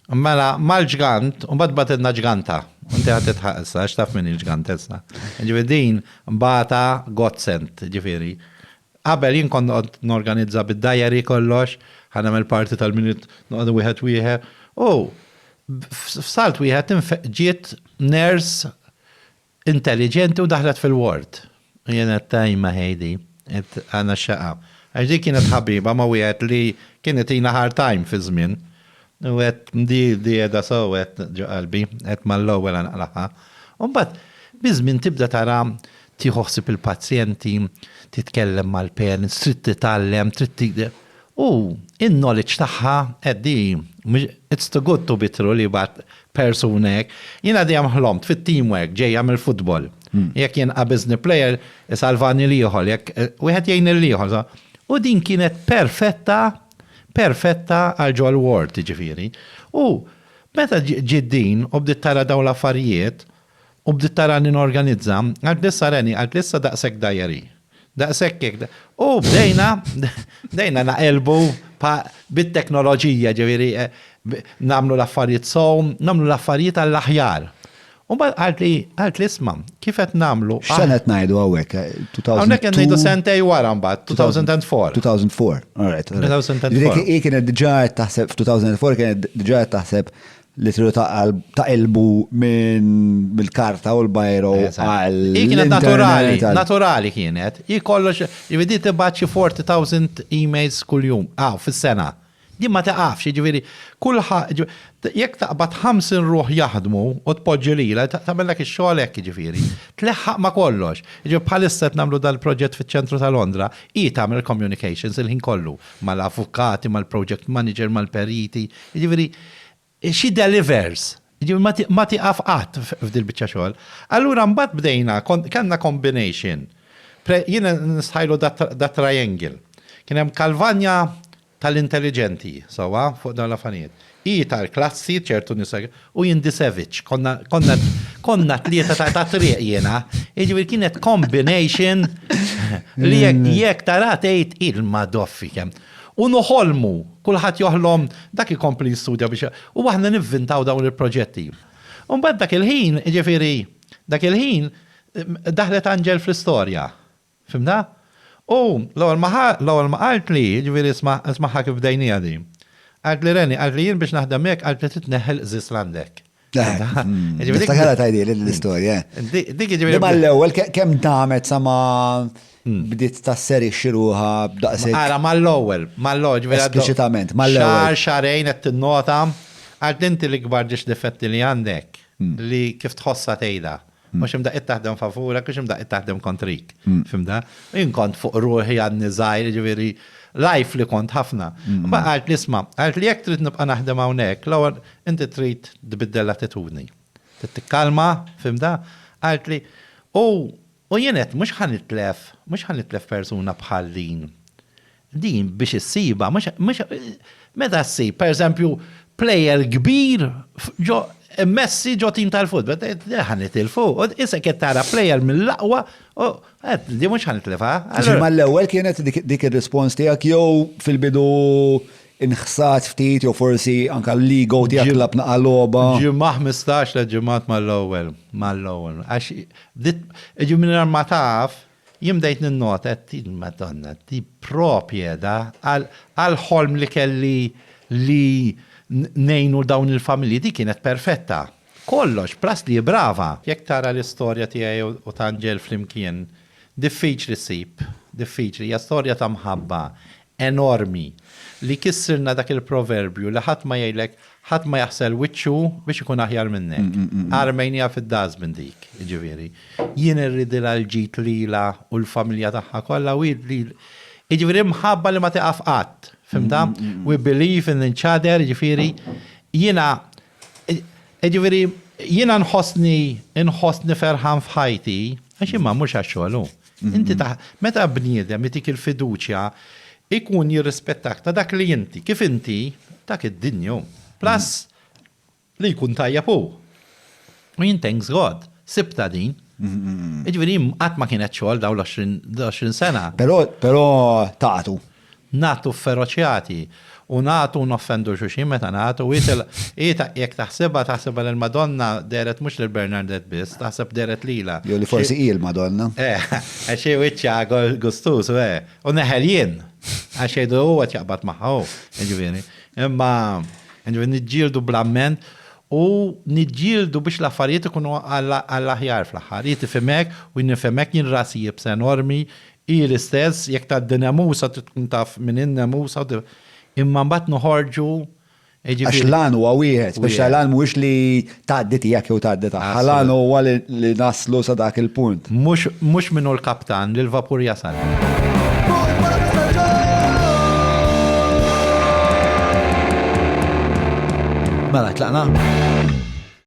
Mela, mal-ġgant, u mbagħad batilna ġganta. Inti ħadd titħaq issa, għax taf min il-ġgant issa. Ġifieri din bata godsend, ġifieri. Qabel jien kont noqgħod norganizza bid-diary kollox, ħa nagħmel parti tal-minut noqogħdu wieħed wieħed. U f'salt wieħed ġiet nurse Intelligenti u daħlet fil-ward. U jien għedt ajma Heidi, għedt għana x-xaqqa. Għax di kienet ħabiba ma' wieħed li kien itina hard time fi żmien. U għedt di qiegħda sew għedt ġo qalbi, għedt mal-ewwel għana qlagħha. U mbagħad biż-żmien tibda tara tieħu ħsieb il-pazjenti, titkellem mal-parents, trid titgħallem, trid. U in-knowledge tagħha qed di it's too good to be true li jibgħat persuna hekk. Jiena dejjem ħlomt fit-team work ġejja mill-futbol. Jekk jien qabiżni player isalvani l-ieħor, jekk wieħed jgħin lill-ieħor. U din kienet perfetta, perfetta għal Joel Ward jiġifieri. U meta ġiet din u bdiet tara dawn l-affarijiet u bdiet tarani norganizza, qaltli issa Reni, qaltli issa daqshekk diary. Daqshekk hekk. U bdejna, bdejna naqelbu bit-teknoloġija, ġifieri nagħmlu l-affarijiet sew, nagħmlu l-affarijiet għall-aħjar. U mbagħad qalt li, qalt li isma' kif qed nagħmlu. X'sena qed ngħidu hawnhekk? Hawnhekk qed ngħidu sentej wara mbagħad, 2004. 2004, alright. Hi kienet diġà qed taħseb f'2004 kienet diġà qed taħseb li tridu taqilbu mill-karta u l-bajro għal. Hi kienet naturali, naturali kienet. Hi kollox, jibidi tibgħat xi 40,000 emails kuljum, aw, fis-sena. Din ma tiqafx, jiġifieri, kulħadd, jekk taqbad 50 ruħ jaħdmu u tpoġġi lilha, tagħmellek ix-xogħol hekk, jiġifieri. Tleħħaq ma' kollox. Jiġifieri bħalissa qed nagħmlu dal-proġett fiċ-ċentru ta' Londra, hi tagħmel il-communications il-ħin kollu, mal-avukati, mal-project manager, mal-periti, jiġifieri, She delivers. Jiġifieri ma tieqaf qatt f'dil-biċċa xogħol. Allura mbagħad bdejna, kellna combination. Jien nistħajlu dat-triangle. Kien hemm Kalvanja tal-intelliġenti, sewwa, fuq dawn l-affarijiet. Hi tal-klassi, ċertu nies hekk, u jien dis-savage. Konna t-tlieta tat-triq jiena. Jiġifieri kienet combination li jekk taraha tgħid il-madoffi kemm. U noħolmu, kulħadd joħlom, dak ikompli jistudja biex, u aħna nivvintaw dawn il-proġetti. U mbagħad dak il-ħin, jiġifieri, dak il-ħin, daħlet Anġel fl-istorja. Fhimtha? U l-ewwel ma ħa, l-ewwel ma qaltli, jiġifieri isma', ismagħha kif bdejniha din. Qaltli Reni, qaltli jien biex naħdem miegħek qaltli trid tneħħi l-qżież l-għandek. Niftakarha tajdi l-istorja. Dik ġifieri. Ma l-ewwel kemm damet sa ma hmm. bdiet ta' seri xiruha b'daqsek. Ara mal-ewwel, mal-ewwel ġifieri. Espliċitament, mal-ewwel. Xar xarejn qed tinnota għal dinti l-ikbar ġiex difetti li għandek hmm. li kif tħossha tgħidha. Mhux imdaqqiet taħdem favurek, mhux imdaqqiet taħdem kontrik. Fimda? Jien kont fuq ruħi għadni żgħir, ġifieri life li kont ħafna. Ma qalt li sma, qalt li jekk trid nibqa' naħdem hawnhekk, l-ewwel inti trid tbiddel l-attitudni. Trid tikkalma, fimda? Qalt li u jien għedt mhux ħa nitlef, mhux ħa nitlef persuna bħal din. Din biex issibha mhux mhux meta ssib, pereżempju, plejer kbir ġo Messi ġo tim tal-futbol, din ħa nitilfu. Isek qed tara plejer mill-aqwa, din mhux ħa nitlifha. Ġi mal-ewwel kienet dik ir-rispons tiegħek jew fil-bidu nħsat ftit jew forsi anke l-ego tiegħek tlabna għal logħba? Ġimgħa 15 tliet ġimgħat mal-ewwel, mal-ewwel. Għax jiġifieri mingħajr ma taf, Jien bdejt ninnota qed ngħid Madonna di propjeda għall-ħolm li kelli li ngħinu dawn il-familji, di kienet perfetta. Kollox, plus li hi brava. Jekk tara l-istorja tiegħi u t'Angel flimkien, diffiċli ssib, diffiċli, hija storja ta' mħabba, enormi li kissirna dak il-proverbju li ħadd ma jgħidlek ħadd ma jaħsel wiċċu biex ikun aħjar minnek. Armejniha fid-dustbin dik, jiġifieri. Jien irridilha l-ġid lilha u l-familja tagħha kollha u jiġifieri mħabba li ma tieqaf qatt, fhimtha? We believe in each other, jiġifieri jiena jiġifieri jiena nħossni nħossni ferħan f'ħajti għax imma mhux għax-xogħol hu. Inti ta' meta bniedem itik il-fiduċja ikun jirrispettak ta' dak li inti, kif inti, dak id-dinju. Plus li jkun tajjeb hu. U jien thanks God, sibta din. Jiġifieri qatt ma kienet xogħol dawn l-20 sena. Però taqgħdu. Nagħtu fferoċjati u nagħtu u noffendu xulxin meta nagħtu. Hi jekk taħsibha, taħsibha li l-Madonna dehret mhux lil Bernardet biss, taħseb dehret lilha. Jew li forsi hi l-Madonna. Eh, għax hi wiċċha gustuż, u eh, u neħel jien. Għax jgħidu huwa qed jaqbad magħha hu, jiġifieri. Imma, jiġifieri niġġieldu bl-amment u niġġieldu biex l-affarijiet ikunu għall-aħjar fl-aħħar. Hi tifhimek u jien nifhimek, jien rasi jibsa enormi, Hi l-istess jekk tgħaddi Nemusa trid tkun taf min hi Nemusa u imma mbagħad noħorġu jiġifieri. Għax l-għan huwa wieħed, speċjali l-għan mhuwiex li tgħaddi tiegħek jew tgħaddi tagħha, l-għan huwa li naslu sa dak il-punt. Mhux min hu l-kaptan li l-vapur jasal. Mela, tlaqna?